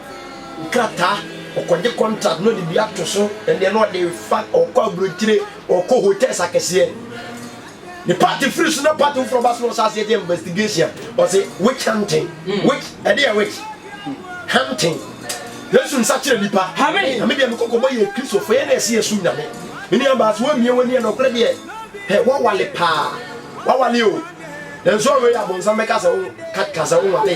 nkrataa, ɔkɔgye contract na ɔde bi ato so, ɛnneɛ na ɔde fa, ɔkɔ aburokyire, ɔkɔ hotels akɛseɛ. Ne party firi so na party foforɔ ba so na ɔsɛ aseɛ gye investigation, ɔsɛ witch hunting, hmm. witch, ɛde yɛ witch hunting. Yesu nsa kyerɛ nipa. Amen. Ame deɛ me kɔkɔ bɔ yɛ Kristo fo yɛ na ɛsi yɛ so nyame. Me nua baa so wɔmie wɔn ni yɛ na ɔkora deɛ ɛ wɔwale paa wɔwale o. Nanso ɔwɔ yɛ abɔnsam bɛka sɛ wɔn kasa wɔn wale.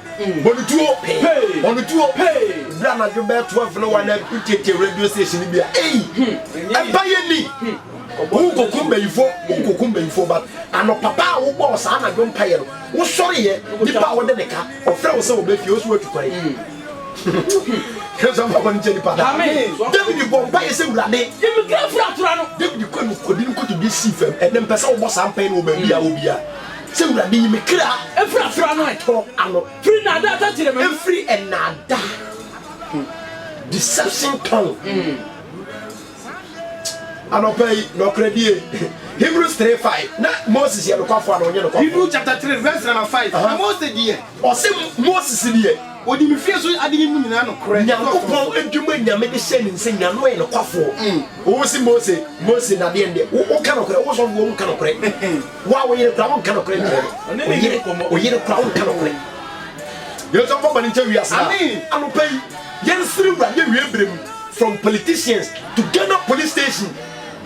Mm. Bɔ no tuo. Pay. Bɔ no tuo. Pay. Bere anadwo bɛyɛ twelve no wa na wotietie radio station bi a ei ɛba yɛ ni wonkokum bayifo wonkokum bayifo but ano papa a wobɔɔ saa anadwo mpayɛ no wosɔreyɛ nipa a wode ne ka ɔfrɛ wo sɛ wɔbɛfie wo so watu kwan sɛ mpabɔ no nkyɛ nipa da david bɔ mpayɛ sɛ wurade david kɔ no kɔdi no kɔtodwe sii fam ɛnɛ mpɛ sɛ wobɔ saa mpae no wɔ baabi a wɔ bia Sɛ Awurade yi me kra. Firi asra no atɔ ano. Firi nnaadaa tɔ kyerɛ m'ani. Firi nnaadaa, deception tɔn. Anɔpa yi, nɔkorɛdie. Hebrews three five, na Moses yɛ nokwafoɔ anaa ɔnyɛ nokwafoɔ? Hebrew chapter three verse number five, na Mose deɛ. Ɔse Moses deɛ, ɔdi me fie so adeɛ mu nyinaa nokorɛ. Nyankopɔn adwuma a Nyame de hyɛɛ ne nsa nyinaa, na ɔyɛ nokwafoɔ. Ɔse Mose, Mose na deɛn deɛ, wo woka nokorɛ, wo sɔfoɔ wonka nokorɛ, wo a wo yere koraa wonka nokorɛ nkyerɛ no, wo yere, wo yere koraa wonka nokorɛ. Yɛnso mfa bɔne nkyɛ wiase no a. Anɔpa yi, yɛnsrɛ Awurade awiei berɛ mu, from politicians to Ghana police station.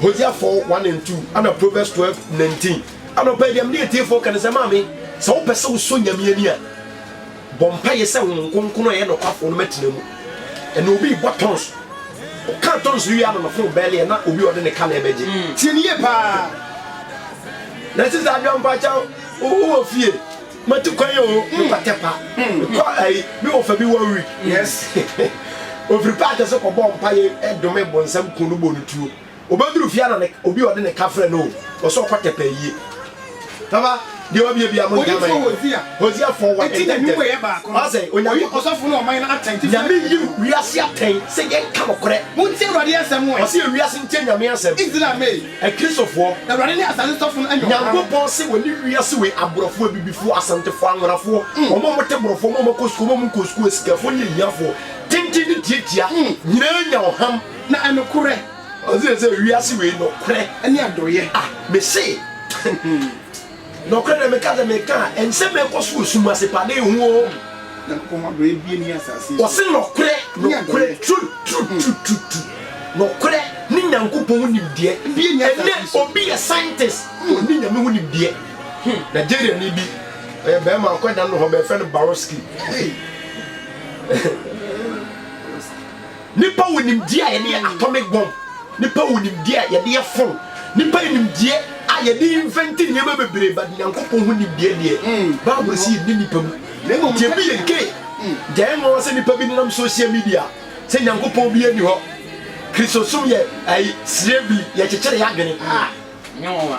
Hosea four one and two ɛna Proverbs twelve nineteen. Anɔpa yi deɛ mede atiefoɔ ka ne sɛ maame, sɛ wopɛ sɛ wosɔ Nyame ani a, bɔ mpaeɛ sɛ Honhom Kronkron a ɛyɛ nokwafoɔ no mɛtena mu. Ɛna obi rebɔ tons, ɔka tons no wie a na ne fon bɛleɛ na obi a ɔde ne ka na ɛbɛgye. Tie no yie paa. Narcissa Adwampakyɛw, wowɔ fie? Matu kwan o, me pa tɛ pa. Mekɔ ayi, me wɔ fa bi one week. Yes. Ofiri park ase kɔ bɔ mpa ye dome bonsam kun no bɔ no tuo. Obeduru fie ana ne obi ɔde ne ka frɛ no o, ɔse ɔkɔ tɛ pa ayie. Papa, deɛ wabie bia mo nka ma yɛ. Hosea. Hosea for what? Eti n'anim wɔ yɛ baako. Ɔse Onyankopɔn. Oyi ɔsɔfo no ɔman no atɛn titi. Nyame yi wiase atɛn sɛ yɛnka nokorɛ. Montie Awurade asɛm ɛ. Ɔse wiase ntie Nyame asɛm. Israel me. Akristofoɔ. Awurade ne asase sɔfo no anya ɔkwan. Nyankopɔn se wɔne wiase wei aborɔfoɔ, abibifoɔ, asantefoɔ, anwonafoɔ, wɔn a wɔte borɔfoɔ, wɔn a wɔkɔ sukuu, wɔn a wɔnkɔɔ sukuu, asikafoɔ ne ahiafoɔ, tenten ne tiatia, nyinaa nya ɔham. Na ɛnokorɛ. Ɔse sɛ wiase wei nokorɛ. Ne adooyɛ. Ah, mese. Nɔkorɛ na meka sɛ, meka a, ɛnsɛ mekɔ so wɔ sum ase pa de ho o. Ɔse nɔkorɛ, nɔkorɛ, truth, truth, truth, truth, truth, nɔkorɛ ne Nyankopɔn ho nimdeɛ. Ɛnɛ obi yɛ scientist, ɔnni Nyame ho nimdeɛ. Nigeriani bi, ɔyɛ bɛɛma, ɔkɔ da no hɔ, bɛfrɛ no Baroski. Nnipa wɔ nimdeɛ a yɛde yɛ atomic bomb, nnipa wɔ nimdeɛ a yɛde yɛ phone, nnipa yɛ nimdeɛ a yɛde invent nneɛma bebree but Nyankopɔn ho nimdeɛ deɛ Bible se yɛnni nnipa mu na mmom deɛ ɛbi yɛn kei nti ɛyɛ nwanwa sɛ nnipa bi nenam social media sɛ Nyankopɔn biara nni hɔ Kristosom yɛ ayi srɛ bi yɛkyekyere yɛn adwene ah ɛnyɛ nwanwa.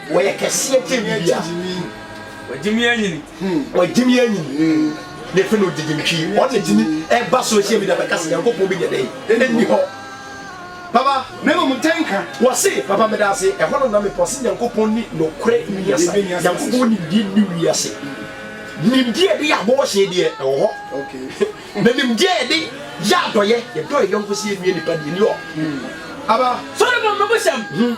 Wɔyɛ kɛseɛ kyɛn biribiara. Wɔagye me anyini. Wɔagye me anyini. Na afei na ɔgyegye me twi. Wɔn na ɛtumi ɛba social media bɛka sɛ Nyankopɔn bi nyɛ dɛn? Ɛnni hɔ. Papa. Na mmom ntɛnka. Wɔse, Papa medaase, ɛhɔ no na mepɛ ɔse Nyankopɔn nni nokorɛ nni asa. Nyankopɔn wɔ nimdeɛ nni wiase. Nimdeɛ a yɛde yɛ abɔɔhyeɛ deɛ ɛwɔ hɔ. Na nimdeɛ a yɛde yɛ adɔyɛ, yɛdɔ yɛn yɔnko sɛ yɛnnua nipa deɛ ɛnni hɔ. Papa. Solomon mmebusɛm.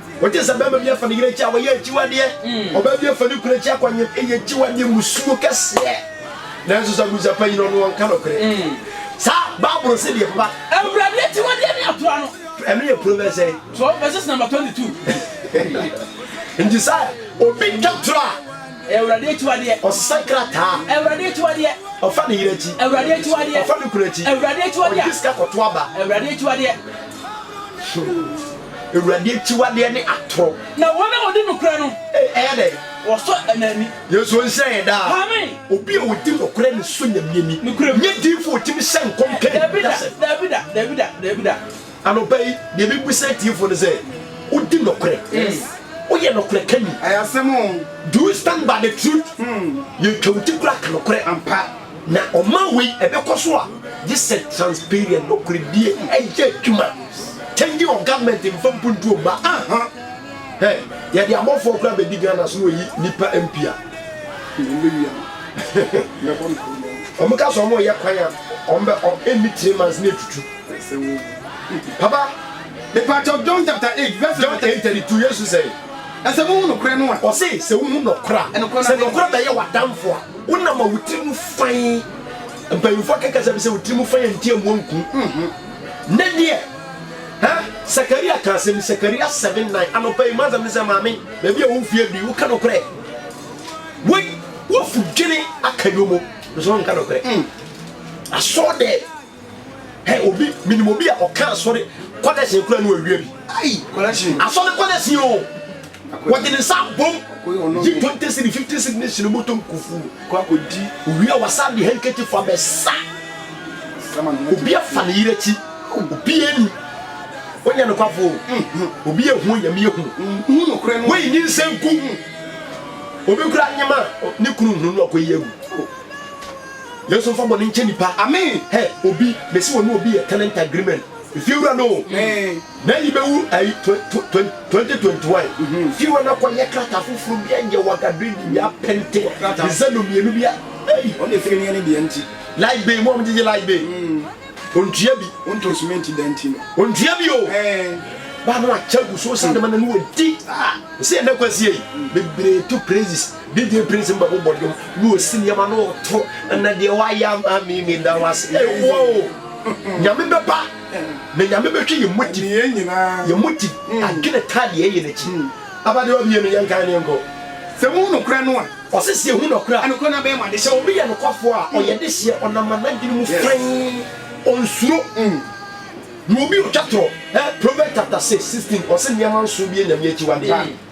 Wogye sɛ barima bi afa ne yere akyi a, ɔyɛ akyiwadeɛ. Ɔbaa bi afa ne kunu akyi akɔ nwe, ɛyɛ akyiwadeɛ, mmusuo kɛseɛ. Nanso sɛ abusa pa yi no, ɔno ɔnka nokorɛ. Saa Bible se deɛ, papa. Awurade akyiwadeɛ ne atorɔ ano. Ɛno yɛ Proverbs sɛn? Twelve verses number twenty two. Nti sɛ obi twa torɔ a. Awurade akyiwadeɛ. Ɔsesa krataa. Awurade akyiwadeɛ. Ɔfa ne yere akyi. Awurade akyiwadeɛ. Ɔfa ne kunu akyi. Awurade akyiwadeɛ. Ɔgye sika kɔto aba. Awurade akyiwadeɛ. So Awurade akyiwadeɛ ne atorɔ. Na wɔn a wɔdi nokorɛ no. Ɛyɛ dɛn? Wɔsɔ ɛna ani. Yesu nhyira yɛn daa. Amen. Obi a ɔdi nokorɛ ne sɔ Nyame ani. Nokorɛ mu. Nyɛ diifo a ɔtumi hyɛ nkɔm ka Dabi da, anitasɛm. dabi da, dabi da, dabi da. Anɔpa yi, deɛ mebisa atiefo no sɛ, wodi nokorɛ? Yes. Woyɛ nokorɛkani? Ɛyɛ asɛm o. Do you stand by the truth? Yɛtwa wo ti koraa ka nokorɛ. Ampa. Na ɔman wei ɛbɛkɔ so a gye sɛ transparent, nokorɛdie, ɛyɛ adwuma, changing of government mfa mpuntuo mma, aha, hɛ, yɛde abɔfoɔ koraa bɛdi Ghana so na wɔyi nnipa MP a, wɔn ka sɛ wɔn reyɛ kwan a, wɔn bɛ, wɔn ɛnni three months na ɛtutu. Papa, mepa kyɛw John chapter eight verse John eight thirty two, Yesu sɛe. Ɛsɛ mo hu nokorɛ no a. Ɔse sɛ wo hu nɔkorɛ a, sɛ nɔkorɛ bɛyɛ w'adamfo a. Wonam a wo tirim fann. Mpanyimfo aka kasa bi sɛ wo tirim fann a nti amu anku. Ne deɛ, ha Sakaria ka asɛm bi, Sakaria seven nine. Anɔpa yi m'asɛm ne sɛ maame, baabi a wo mfeɛ du yi, woka nokorɛ. Wei, woafu dwene aka yomo, nso wonka nokorɛ. Asɔɔ dɛɛ. Hey, obi minim obi a ɔka asɔre kɔlɛs ekura no awia bi. Ayi kɔlɛs. Asɔre kɔlɛs yi o. Wɔde ne nsa bom. Yi twenty cedi fifty cedi ne hyɛn mu tom kufu. Kɔ akɔdi. Owia wasa de hankati fa bɛsa. Obi afa ne yere akyi. Obi ani. Wonya no kwafo. Mm-hmm. Obi ehu yam yɛ hu. Mm-hmm. Woyi nyi nsɛnku. Mm-hmm. Obi kura nyema ne kunu hu no akɔyi agu. Oh. Yesu nfa bɔne nkyɛ nipa amen hɛ obi mesi wɔne obi yɛ tenant agreement efiewura no na yi bɛwu ayi 2021 fiewura no kɔ yɛ krata foforo bi ɛnyɛ waga dredi bi apɛnte ɛsɛ no mmienu bi a ɛyi ɔne efie no yɛ ne deɛ nti light bay mu a wɔgyegye light bay ontua bi ontua cement da nti no ontua bi o ba no akyɛ gu so sa de ma na no wadi sɛ ɛnɛ kwasie bebree to praises Didie Prince mba bobɔ dwom na ɔsi nneɛma na ɔto na deɛ wayɛ ama me me da wo ase ee woa oo Nyame bɛba na Nyame bɛhwɛ yɛn motive yɛn motive adwene taa deɛ ɛyɛ n'akyi aba deɛ ɔbɛyɛ no yɛnkae no yɛnkɔ. Sɛ mohu nokorɛ no a. Ɔse sɛ yɛhu nokorɛ a. Nokorɛ no abɛyɛ mo adehyeɛ. Sɛ obi yɛ nokwafoɔ a ɔyɛ dehyeɛ ɔnam ma n'adwene mu fann ɔnsuro na obi ɔtwa torɔ eh Proverbs chapter six sixteen ɔse nneɛma nson bi yɛ Nyame akyiwadeɛ.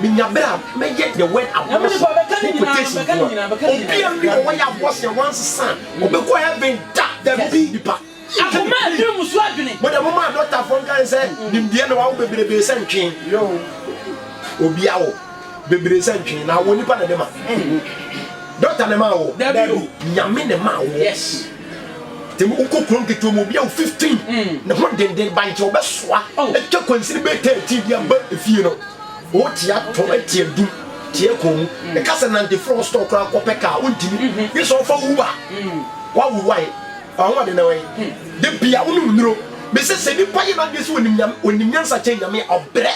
Menya bere a mɛyɛ the word abortion ho quotation nko a. Obiara nni hɔ wayɛ abortion a wansesa a ɔbɛkɔ heaven da. Dabi, nipa. Akoma a ɛduru mu so adwene. Mo deɛ mo maa dɔktafoɔ nka yɛn sɛ nimdeɛ na wawo bebrebee sɛ ntwe. Obi awo bebree sɛ ntwe na awo nipa na ɛde ma. Dɔkta na ɛma awo. Dabi o. Nyame na ɛma awo. Yes. Tẹmu wokɔ kurom ketewa mu obi awo fifteen ne ho denden bankye ɔbɛsoa atwa kwansini bɛyɛ thirteen de aba efie no. O tia tɔ tia dum tia kɔn mu ɛka sɛ nante firi hɔ store koraa kɔpɛ kaa wontimi gye sɛ ɔfa uber waworo wae ahoɔden na wae da bia wonom nnuro mesɛ sɛ nipa yɛ n'adwene sɛ onim nyame onim nyansa kyɛn nyame a ɔbrɛ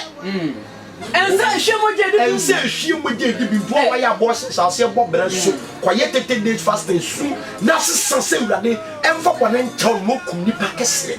ɛnsɛ ehwie mogya edi bi ɛnsɛ ehwie mogya edi bi mpo a wayɛ abortion hyɛ aseɛ bɔ brɛ so kɔyɛ tete days fasting su na sesa sɛ awurade ɛmfa bɔne nkyɛw no mokum nipa kɛseɛ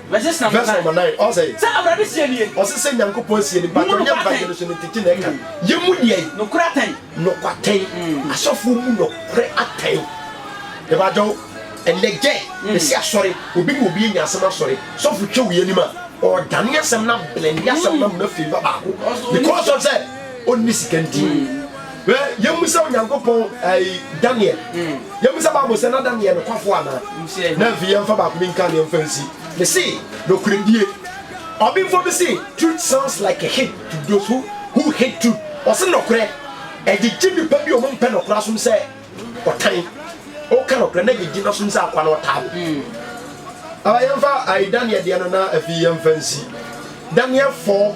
Verse number nine. Verse number nine, ɔsɛ. Sɛ Awurade seɛ nie. Ɔse sɛ Nyankopɔn seɛ nie. Mpakyɛw yɛ mpa yɛn so no ntetee na ɛka. Yɛ mu deɛ. Nokorɛ atɛn. Nɔkɔ atɛn. Asɔfoɔ mu nɔkorɛ atɛn. Mepakyɛw, ɛnɛ gyɛ, mese asɔre, obi ne obi anya asɛm asɔre, sɔfo twa wei anim a, ɔɔdane asɛm no ablende asɛm no ama no afavor baako because of sɛ ɔnni sika nti. Hwɛ, yemmisa Onyankopɔn ɛɛ Daniel. Yemmisa Bible sɛ na Daniel yɛ nokwafo anaa. Na afei yɛmfa baako bi nka na yɛmfa nsi. Mese, nokorɛdie. Ɔbenfoɔ bi se, Truth sounds like a hit to those who who hate truth. Ɔse, Nɔkorɛ, ɛgyegye nnipa bi a wɔmpɛ nɔkorɛ asom sɛ ɔtan. Woka nɔkorɛ na ɛgyegye no asom sɛ akoa na ɔtaa wo. Aba, yɛmfa ɛɛ Daniel deɛ no na afei yɛmfa nsi. Daniel 4.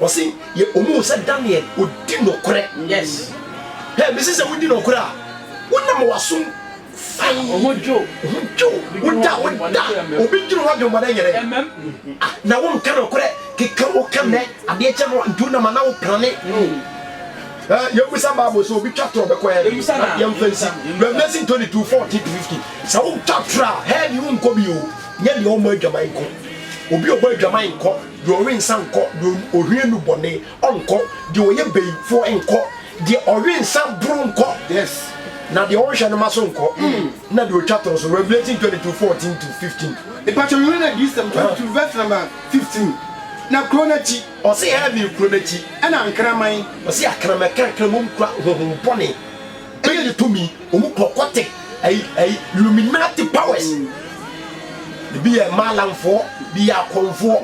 Ɔse yɛ ɔmo hu sɛ Daniel ɔdi nɔkorɛ yes hɛ mese sɛ wodi nɔkorɛ a wonam wasom fann ɔho dwo ɔho dwo woda woda obi dwene ho adwenbɔne nyɛ dɛ ah na wo nka nɔkorɛ keka wo ka nɛ adeɛ kyɛ no nti wonam ana wo prane eh yɛ busa bible sɛ obi twa torɔ bɛkɔ hɛ na yɛ mfa nsi Revelation 22 14 to 15 sɛ wo twa torɔ a hɛ deɛ wo nkɔ bi o nyɛ deɛ ɔmɔ adwaman nko obi ɔbɔ adwaman nkɔ. Deɛ ɔwe nsa nkɔ, deɛ ɔhwie nnubɔne nkɔ, deɛ ɔyɛ bayifoɔ nkɔ, deɛ ɔwe nsa boro nkɔ, na deɛ ɔnhwɛ ne mma so nkɔ, na deɛ ɔtwa toro so. Revelation 22, 14 to 15. Mpakyɛw Yohane Adiyisɛm 22 vs number 15 Na kuro no akyi. Ɔse heaven kuro no akyi. Ɛna nkraman. Ɔse akraman ɛka nkramom kura honhom bɔne. Ɛna ne tumi wɔn kɔ kɔte ɛyi ɛyi Illuminati powers ebi yɛ maalamfoɔ bi yɛ akɔnfoɔ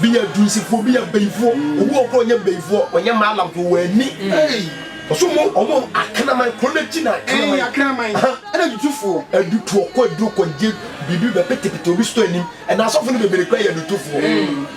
bi yɛ dunsifoɔ bi yɛ bɛyifoɔ obi wɔ koro ɔnyɛ bɛyifoɔ ɔnyɛ maalamfoɔ wɔn ani ɔso mo ɔmo akraman koro no akyi na akraman akraman ɛna dutufoɔ adutuɔ kɔ aduro kɔ gye biribi bɛpetepete obi sotɔ anim ɛna asɔfo no bebree kura yɛ adutufoɔ.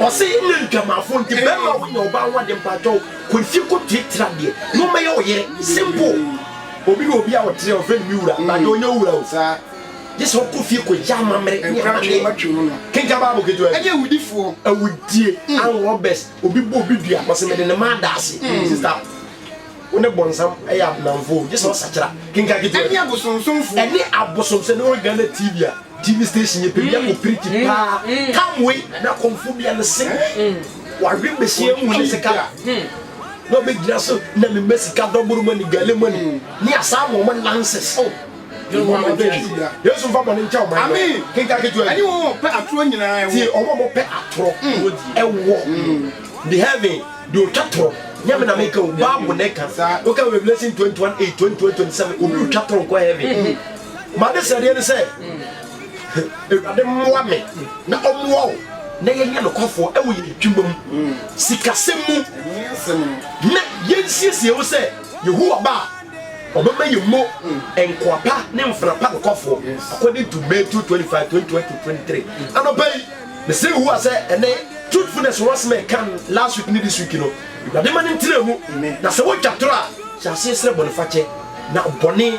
ɔsɛ yɛ nyɛ ntwamafo nti bɛma wonya ɔba ho ade mpakyɛw kɔ fie kɔ tratra deɛ na ɔmɛyɛ wo yere simple obi ne obi a ɔtrɛ ɔfrɛ no me wura na de ɔnyɛ wura o gye sɛ ɔkɔ fie kɔ yɛ amammerɛ ne amaneɛ kenka baabo ketewa ɛnyɛ awudifoɔ awudie mm. and robbers obi bɔ obi dua ɔsɛ mede ne ma adaase mm. sista wo ne bɔnsam ɛyɛ abenamfo gye sɛ ɔsakyera kenka ketewa ɛne abosomsomfo ɛne abosomsɛ ne ɔgana tv a TV station yɛ baabi a wɔpirikyi mm, paa. Mm. Tam wei na kɔmfo bia no se mm. wɔawe bɛhyia mu ne sika na ɔbɛgyina so na mema sika dɔboro mani gale mani ne asaa ma ɔma lances oh. yesu mfa bɔne nkyɛ ɔman no kenka ketewa ɛne wɔn wɔpɛ atorɔ nyinaa ɛwɔ tie ɔma wɔpɛ atorɔ ɛwɔ the heaven de ɔtwa torɔ nyame na meka o bible na ɛka woka revelation 21 8 22 27 obi ɔtwa torɔ nkɔ heaven M'adesrɛdeɛ ne sɛ Awurade mmoa me na ɔmmoa wo na yɛnyɛ nokwafoɔ wɔ yɛn adwuma mu, sikasɛm mu, na yɛnsiesie ho sɛ Yehowa ba a ɔbɛma yɛn mu nkoa pa ne mfena pa nokwafoɔ, according to May 2, 25, 2022-23. Anɔpa yi, mesrɛ Yehowa sɛ ɛnɛ truthfulness ho asɛm a yɛka last week ne this week no, Awurade ma no ntena mu, na sɛ wotwa torɔ a, hyɛ aseɛ srɛ bɔnefakyɛ, na bɔne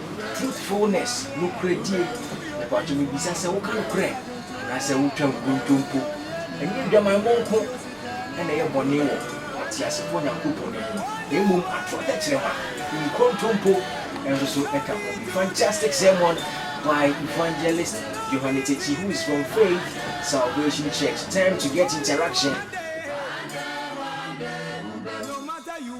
Truthfulness, Nokorɛdie, Mepaatwo mebisa sɛ woka nokorɛ anaasɛ wotwa nkontompo? Ɛnyɛ adwamammɔ nko na ɛyɛ bɔne wɔ ɔteasefoɔ Nyankopɔn anim na mmom atorɔ tɛkyerɛma, nkontompo, nso so ka ho. Bi, Fantastic Sermon by Evangelist Johanne Tsechi who is from Faith Salvation Church, Time to get interaction.